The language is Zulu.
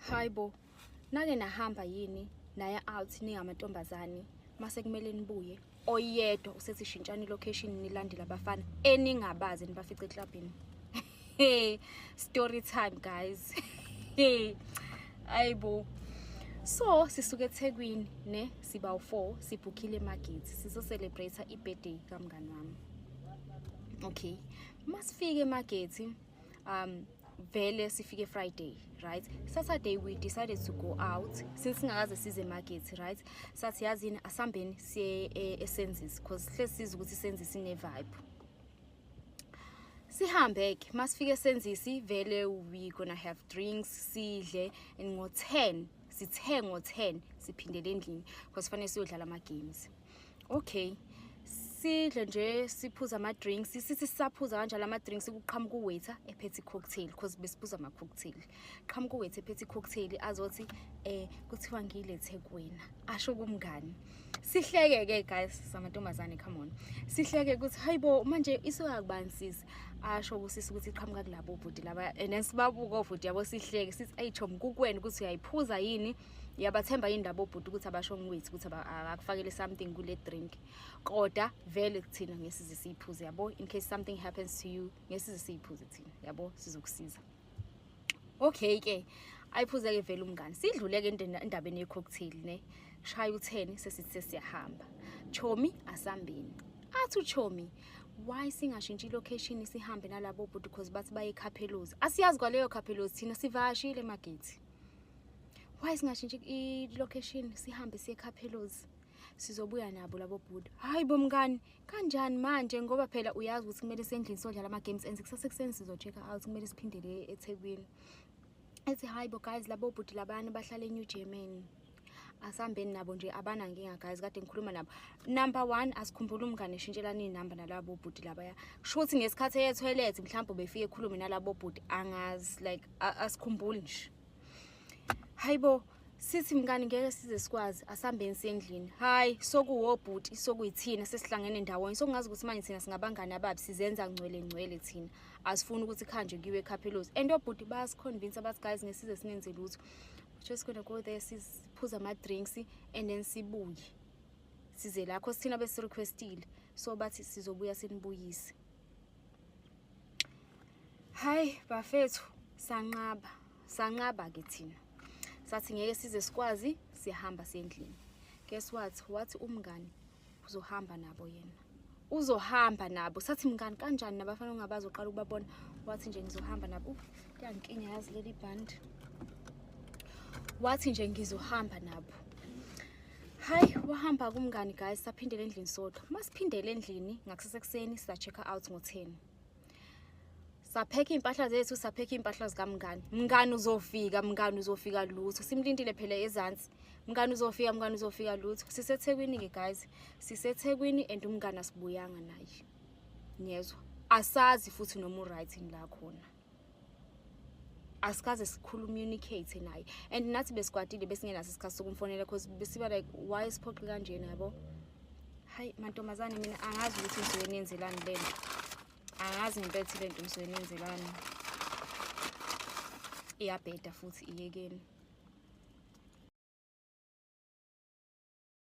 hayi bo nake nahamba yini naye out ningamantombazane mase kumele nibuye oyedwa usethi shintshani location nilandela abafana eningabazi nibafice eclubini hey story time guys hey ayibo so sisuke ethekwini ne siba u4 sibhukhile emagithi sizo celebrate ibirthday kamngani wami okay masifike emagithi um vele sifike friday right saturday we decided to go out since singakaze size market right sathi yazini asambeni siye eh, esenzisi because hle siza ukuthi isenzisi ne-vibe sihambe ke masifike esenzisi vele we gonna have drinks sidle and ngo-10 sithe ngo-10 siphindele endlini because fanele siyodlala ama-games okay sidle nje siphuza ama-drinks sithi sisaphuza kanjalo ama-drinks kuqhamuka uwaiter ephethe i-cocktail because besiphuza ama-cocktail qhamuka uwaiter ephethe i-cocktail azothi um kuthiwa ngiyilethe kuwena asho kumngani sihleke-ke guys samantombazane come on sihleke ukuthi hayi bo manje isoya kubani sisi asho kusisi ukuthi iqhamuka kulabo bhuti laba and then sibabuka obhuti yabo sihleke sithi ayi chom kukwena ukuthi uyayiphuza yini ngiyabathemba yini labo bhuti ukuthi abasho ngiwithi ukuthi akakufakele something kule drink koda vele kuthina ngesize siyiphuze yabo in case something happens to you ngesize siyiphuze thina yabo sizokusiza okay ke ayiphuze ke vele umngani sidlule ke endabeni yecocktail ne shaya utheni sesithe siyahamba chomi asambeni athi uchomi why singashintshi ilocation sihambe nalabo bhuti because bathi baye khaphelozi asiyazi kwaleyo khaphelozi thina sivashile magethi why singashintshi i-location sihambe siye ekhaphelozi sizobuya nabo labo bhuda hhayi bomngani kanjani manje ngoba phela uyazi ukuthi kumele sendlini sodlala ama-games enze kusase kuseni sizo-check out kumele siphindele ethekwini ethi hhayi bo guys labo bhuti labana bahlala enew germany asihambeni nabo nje abanankinga guys kade ngikhuluma nabo number one asikhumbula umngane eshintshelana iy'namba nalabo bhuti labaya kusho ukuthi ngesikhathi eye toilet mhlawumbe befike ekhulume nalabo bhuti angazi like asikhumbuli nje hayi bo sithi mngani ngeke size sikwazi asihambeni sendlini hayi sokuwobhuti sokuyithina sesihlangene ndawonye sokungazi ukuthi manje thina singabangani ababi sizenza ngcwele ngcwele thina asifuni ukuthi khanjwe kiwe ekhaphelozi and obhuti bayasiconvince abathi guys ngesize singenze lutho just gonna go there siphuza ama-drinks and then sibuye size lakho sithina besirequestile so bathi sizobuya sinibuyise hayi bafethu sanqaba sanqaba-ke thina sathi ngeke size sikwazi siyahamba sendlini guess what wathi umngani uzohamba nabo yena uzohamba nabo sathi mngani kanjani nabafana ongabazi uqala ukubabona wathi nje ngizohamba nabo uh, kuyangikinya yazi leli band wathi nje ngizohamba nabo hayi wahamba kumngani guys saphindele endlini sodwa masiphindele endlini ngakusasa ekuseni sa-check out ngo-ten saphekha iy'mpahla zethu saphekha iy'mpahla zikamngani mngani uzofika mngani uzofika lutho simlindile phela ezansi mngani uzofika mngani uzofika lutho sisethekwini-ke guys sisethekwini and umngani asibuyanga naye niyezwa asazi futhi noma uright ngila khona asikaze sikhulumunicate naye and nathi besikwatile besingenaso isikhathi sokumfonela cause besiba like why siphoqi kanjena yabo hayi mantombazane mina angazi ukuthi ngisuke nenzelani le nto angazi ngempela ukuthi le nto ngisuke nenzelani iyabheda futhi iyekeni